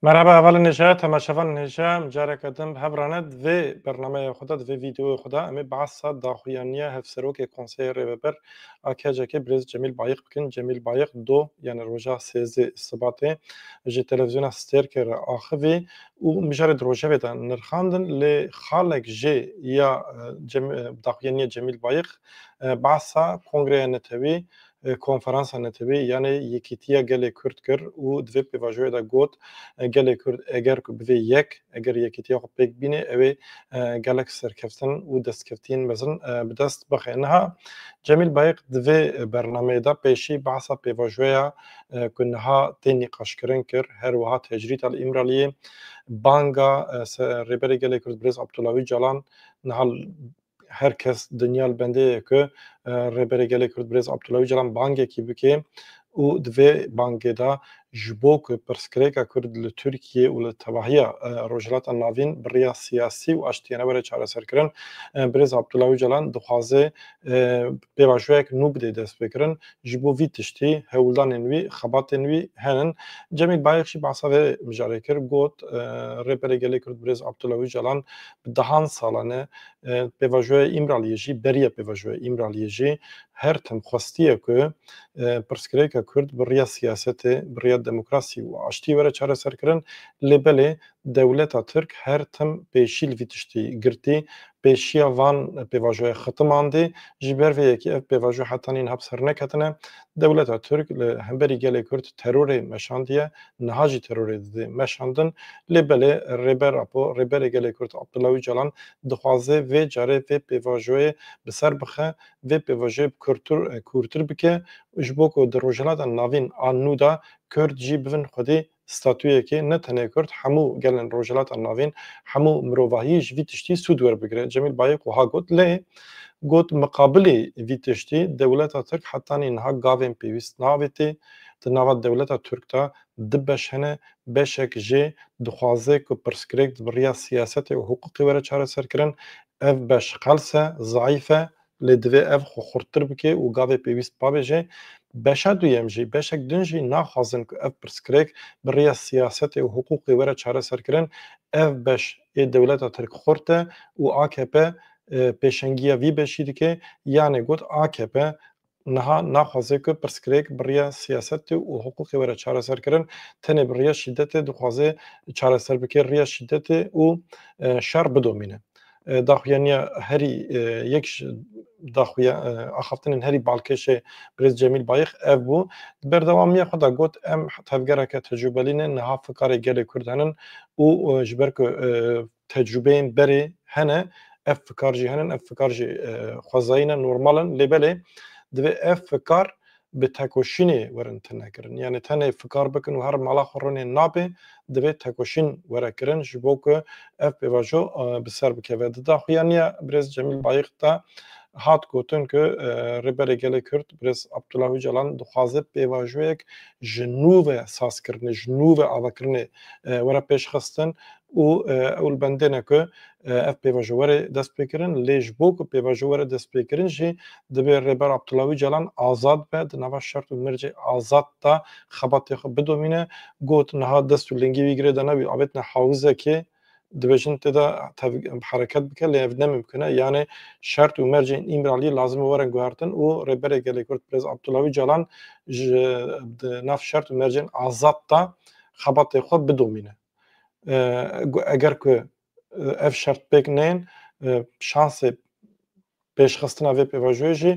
Merhaba hevalên hêja, temaşevan hêja, careke din bi hev rane di vê bernameya xwe de di vê vîdeoya xwe de em ê behsa daxuyaniya Hevserokê Konseyê Rêveber a KCK'ê Birêz Cemîl Bayîq bikin Cemîl Bayiq do yanê roja sêzdê Sibatê ji televîzyona Stêrkê re axivî û mijarê di rojevê de nirxandin lê xalek jê ya daxuyanîya Cemîl Bayiq behsa kongreya netewî, konferansa netewî yanê Yekîtîya Gelê Kurd kir û di vê pêvajoyê de got, Gelê Kurd eger ku bivê yek, Eger yekîtiya xwe pêk bînê ew ê gelek serkeftin û destkevtiyên mezin bi dest bixe. Niha Cemîl Bayik di vê bernameyê de pêşî behsa pêvajoya ku niha tê nîqaşkirin kir. Her wiha Tecrîd El Îmraliyê banga Rêberê Gelê Kurd Birêz Abdullah Ocalan niha Her kes dinya li bendê ye ku Rêberê Gelê Kurd Birêz Abdullah Ocalan bangekî bike û di vê bangê de ji bo ku pirsgirêka Kurd li Tirkiyeyê û li tevahiya Rojhilata Navîn bi riya siyasî û aştiyane were çareserkirin, Birêz Abdullah Ocalan dixwaze pêvajoyek nû bide destpêkirin Ji bo vî tiştî hewldanên wî, xebatên wî henin. Cemîl Bayix jî behsa vê mijarê kir, got, Rêberê Gelê Kurd Birêz Abdullah Ocalan bi dehan salan e pêvajoya Îmraliyê jî beriya pêvajoya Îmraliyê jî her tim xwestiye ku pirsgirêka Kurd bi riya siyasetê, bi riya demokrasî û aştiyê were çareserkirin. Lê belê dewleta Tirk her tim pêşîl vî tiştî girtî Pêşiya van pêvajoyê xitim andî, ji ber vê yekê ev pêvajo heta nîn hap ser neketine. Dewleta Tirk li hemberî gelê Kurd terorê meşandiye, niha jî terorê didê meşandin. Lê belê Rêber Apo, Rêberê Gelê Kurd Abdullah Ocalan dixwaze vê carê vê pêvajoyê bi ser bixe, vê pêvajoyê bi kurdtir kûrtir bike û ji bo ku di Rojhilata Navîn a nû de Kurd jî bibin xwedî statuyekê ne tenê kurd hemû gelên Rojhilata Navîn, hemû mirovahiyî ji vî tiştî sûd werbigire. Cemîl Bayik wiha got, lê got miqabilê vî tiştî dewleta Tirk hetanî niha gavên pêwîst naavêtê. Di nava dewleta Tirk de du beş hene, beşek jê dixwaze ku pirsgirêk bi riya siyasetê û hiqûqê were çareserkirin. Ev beş qels e, zeîf e, Lê divê ev xwe xurttir bike û gavê pêwîst pabêje. Beşa duyem jî, beşek din jî naxwazin ku ev pirsgirêk bi rêya siyasetê û hiqûqê were çareserkirin. Ev beş ê dewleta tirk xurt e û akp pêşengiya vî beşî dike. Yanê got akp niha naxwaze ku pirsgirêk bi rêya siyasetê û hiqûqê were çareserkirin, tenê bi rêya şîdetê dixwaze çareser bike, rêya şîdetê û şer bidomîne. Daxuyaniya herî yek ji daxuya axaftinên herî balkêşê Birêz Cemîl Bayix ev bû. Di berdewamiya xwe de got, Em tevgereke tecrûbelî ne, niha fikarê gelê Kurd henin û ji ber ku tecrûbeyên berê hene ev fikar jî henin, ev fikar jî xwezayî ne, normal in. Lê belê divê ev fikar bi tekoşînê werin tune kirin. Yanî tenê fikar bikin û her mala xwe rûnên nabê, divê tekoşîn were kirin ji bo ku ev pêvajo bi ser bikeve. Di daxuya nû ya Birêz Cemîl Bayix de hat gotin ku Rêberê Gelê Kurd Birêz Abdullah Ocalan dixwaze pêvajoyek ji nû ve sazkirinê, ji nû ve avakirinê were pêşxistin û ew li bendê ne ku ev pêvajo were dest pê kirin lê ji bo ku pêvajo were dest pê kirin jî dibê Rêber Abdullah Ocalan azad be di nava şert û mircê azad de xebatê xwe bidomîne. Got, Niha dest û lingê wî girê de nebî avêtine hawizekê dibêjin tê de hereket bike lê ev ne mimkun e yanê şert û mercên Îmraliyê lazim e werin guhertin û Rêberê Gelê Kurd Birêz Abdullah Ocalan ji di nav şert û mercên azad de xebatê xwe bidomîne. eger ku ev şert pêk neyên şansê pêşxistina vê pêvajoyê jî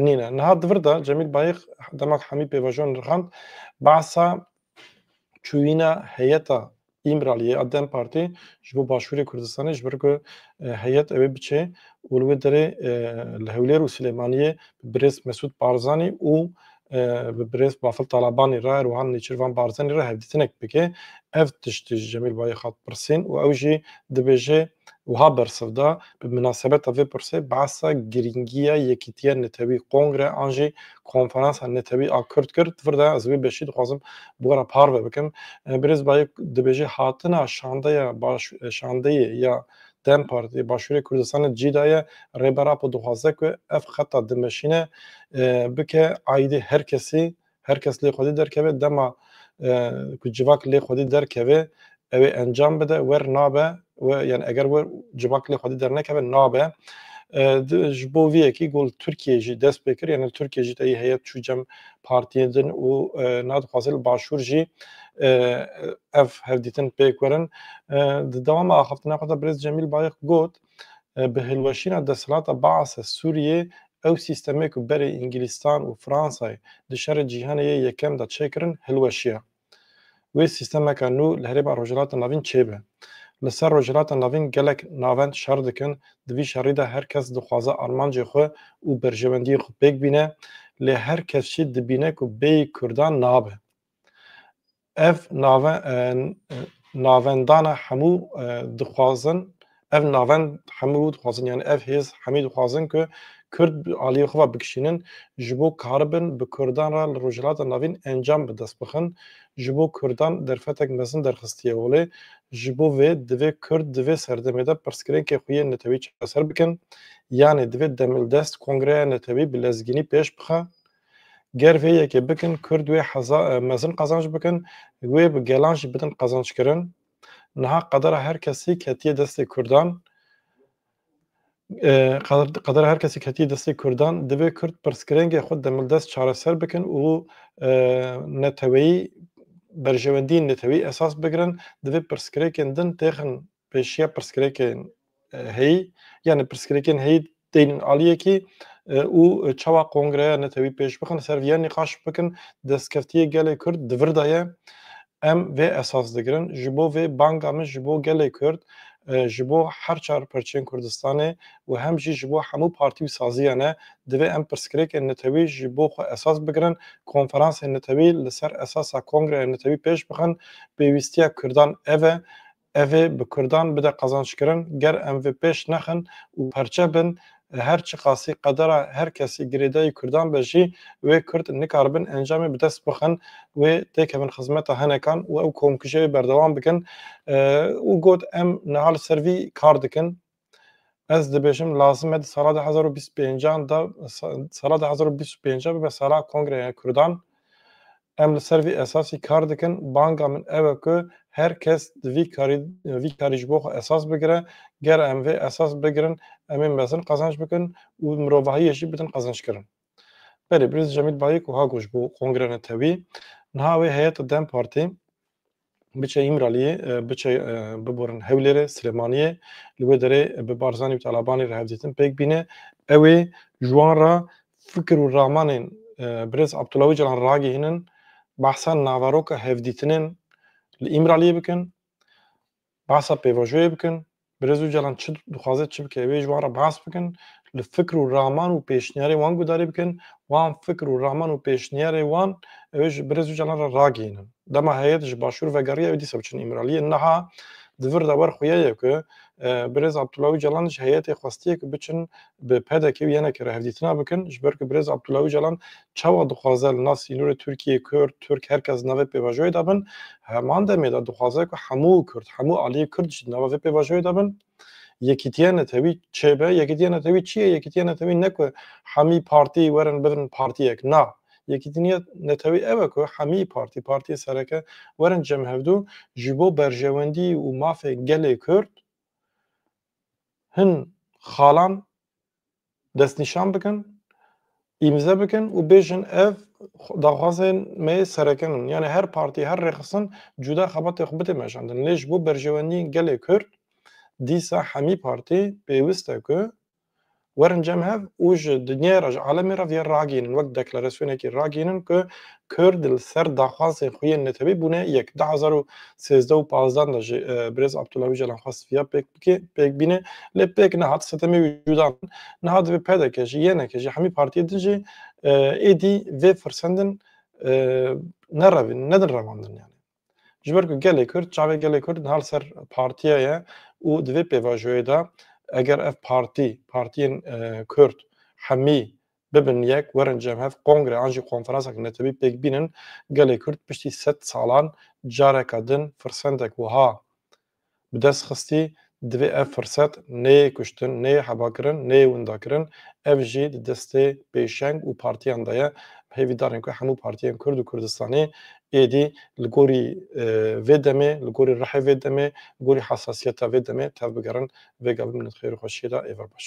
nîne. Niha di vir de Cemîl Bayix dema ku Hemî pêvajo nirxand behsa çûyîna heyeta Îmraliyê a dem Partî ji bo Başûrê Kurdistanê ji ber ku heyet ewê biçê û li wê derê li Hewlêr û Silêmaniyê bi birêz Mesûd Barzanî û bi birêz Bafil Talabanî re û wiha Nêçîrvan Barzanî re hevdîtinek bike. Ev tiştî ji Cemîl Bayî hat pirsîn û ew jî dibêje wiha bersiv da, Bi minasebeta vê pirsê behsa girîngiya yekîtiya netewî, kongre an jî konferansa netewî a Kurd kir. Di vir de ez wê beşî dixwazim bi we re parve bikim. Birêz Bayî dibêje hatina şandeya şandeyê ya Dem Partî Başûrê Kurdistanê cî daye, Rêber Apo dixwaze ku ev xeta dimeşîne bike aîdê her kesî, her kes lê xwedî derkeve, dema ku civak lê xwedî derkeve ewê encam bide, wer nabe we yanî eger we civak lê xwedî dernekeve nabe. Ji bo vî yekî got li Tirkiyeyê jî dest pê kir yanî li Tirkiyeyê jî teyî heyet çû cem partiyên din û nadixwaze li başûr jî ev hevdîtin pêk werin. Di dewama axaftina xwe de Birêz Cemîl Bayix got, Bi hilweşîna desthilata Baas a Sûriyê ew sîstemê ku berê Îngilîstan û Fransayê di şerê cîhanê yê yekem de çêkirin hilweşiya. wê sîstemeke nû li Herêma Rojhilata Navîn çêbe. Li ser Rojhilata Navîn gelek navend şer dikin, di vî şerî de her kes dixwaze armancê xwe û berjewendiyên xwe pêk bîne, lê her kes jî dibîne ku bêyî Kurdan nabe. Ev navendana hemû dixwazin Ev navend hemû dixwazin yan ev hêz hemî dixwazin ku Kurd bi aliyê xwe ve bikişînin ji bo karibin bi Kurdan re li Rojhilata Navîn encam bi dest bixin. Ji bo Kurdan derfetek mezin derxistiye holê. Ji bo vê divê Kurd di vê serdemê de pirsgirêkên xwe yên netewî çareser bikin. Yanê divê demildest kongreya netewî bi lezgînî pêş bixe. Ger vê yekê bikin Kurd wê heza mezin qezanc bikin, wê bi gelan jî bidin qezanc kirin. Niha qedera her kesî ketiye destê Kurdan qedera her kesî ketiye destê Kurdan divê Kurd pirsgirêngê xwe demildest çareser bikin û neteweyî berjewendiyên neteweyî esas bigirin, divê pirsgirêkên din têxin pêşiya pirsgirêkên heyî yanî pirsgirêkên heyî tênin aliyekî û çawa kongreya netewî pêş bixin ser vî nîqaş bikin destkeftiyê gelê kurd di vir de ye em vê esas digirin ji bo vê banga min ji bo gelê kurd ji bo her çar parçeyên kurdistanê û hem jî ji bo hemû partî û saziyan e divê em pirsgirêkên netewî ji bo xwe esas bigirin konferansên netewî li ser esasa kongreya netewî pêş bixin pêwîstiya kurdan ev e Ev ê bi kurdan bide qazançkirin, ger em vê pêş nexin û perçe bin, her çiqasî qedera her kesî girêdayî kurdan be jî, wê kurd nikaribin encamê bi dest bixin, wê têkevin xizmeta henekan û ew komkujiyayê berdewam bikin û got, Em niha li ser vî kar dikin, Ez dibêjim lazim e di sala du hezar û bîst û pêncan de sala du hezar û bîst û pênc bibe sala Kongreya Kurdan. Em li ser vî esasî kar dikin. Banga min ew e ku her kes di vî karî vî karî ji bo xwe esas bigire. Ger em vê esas bigirin em ê mezin qazanc bikin û mirovahiyê jî bidin qezinckirin. Belê Birêz Cemîl Bayik wiha got ji bo Kongreya Netewî, Niha wê heyeta dem Partî, Biçe Îmraliyê, biçe biborin Hewlêrê, Silêmaniyê, li wê derê bi Barzanî û Talabanî re hevdîtin pêk bîne. Ew ê ji wan re fikir û ramanên Birêz Abdullah Ocalan ragihînin, behsa naveroka hevdîtinên li Îmraliyê bikin. Behsa pêvajoyê bikin, Birêz Ocalan çi dixwaze çi bike wê ji wan re behs bikin, li fikir û raman û pêşniyarên wan guhdarî bikin, wan fikir û raman û pêşniyarê wan ew ê ji Birêz Ocalan re ragihînin. Dema heyet ji başûr vegeriya ew dîsa biçin Îmraliyê. Niha di vir de wer xuya ye ku Birêz Abdullah Ocalan ji heyetê xwestiye ku biçin bi pdk û ynk re hevdîtina bikin, ji ber ku birêz Abdullah Ocalan çawa dixwaze li nav sînorê Tirkiyê Kurd, Tirk her kes di navê pêvajoyê de bin, heman demê de dixwaze ku hemû Kurd, hemû aliyê Kurd jî di nava vê pêvajoyê de bin. Yekîtiya Netewî çê be? Yekîtiya Netewî çi ye? Yekîtiya Netewî ne ku hemî partî werin bibin partiyek. Na, Yekîtiniya Netewî ew e ku hemî partî, partiyê sereke werin cem hevdu ji bo berjewendî û mafê gelê Kurd hin xalan destnîşan bikin, îmze bikin û bêjin ev daxwazên me yê serekin in. Yanî her partî, her rêxistin cuda xebatê xwe bidê meşandin. Lê ji bo berjewendiyên gelê Kurd dîsa hemî partî pêwist e ku Werin cem hev û ji dinyayê re, ji alemê re vê ragihînin, wek deklarasyonekî ragihînin ku Kurd li ser daxwazên xwe yên netewî bûne yek. Du hezar û sêzdeh û pazdeh de jî birêz Abdullah Ocalan xwest vîya pêk bike, pêk bîne lê pêk nehat. Sitemê wî cuda min niha divê pdk jî, ynk jî, hemî partiyên din jî êdî vê firsendin nerevin, nedin revandin. Yanî. Ji ber ku gelê Kurd, çavê gelê Kurd niha li ser partiye ye û di vê pêvajoyê de eger ev partî, partiyên Kurd hemî bibin yek, werin cemhev kongre an jî konferansek netewî pêk bînin, gelê Kurd piştî sed salan careke din firsendek wiha Bi dest xistî divê ev firset neyê kuştin, neyê hebakirin, neyê windakirin, ev jî di destê pêşeng û partiyan de ye. Hêvî darin ku hemû partiyên Kurd û Kurdistanî êdî li gorî vê demê, li gorî rihê vê demê, li gorî hesasiyeta vê demê tevbigerin. Vêga bimînin di xêr û xweşiyê de. Êvar baş.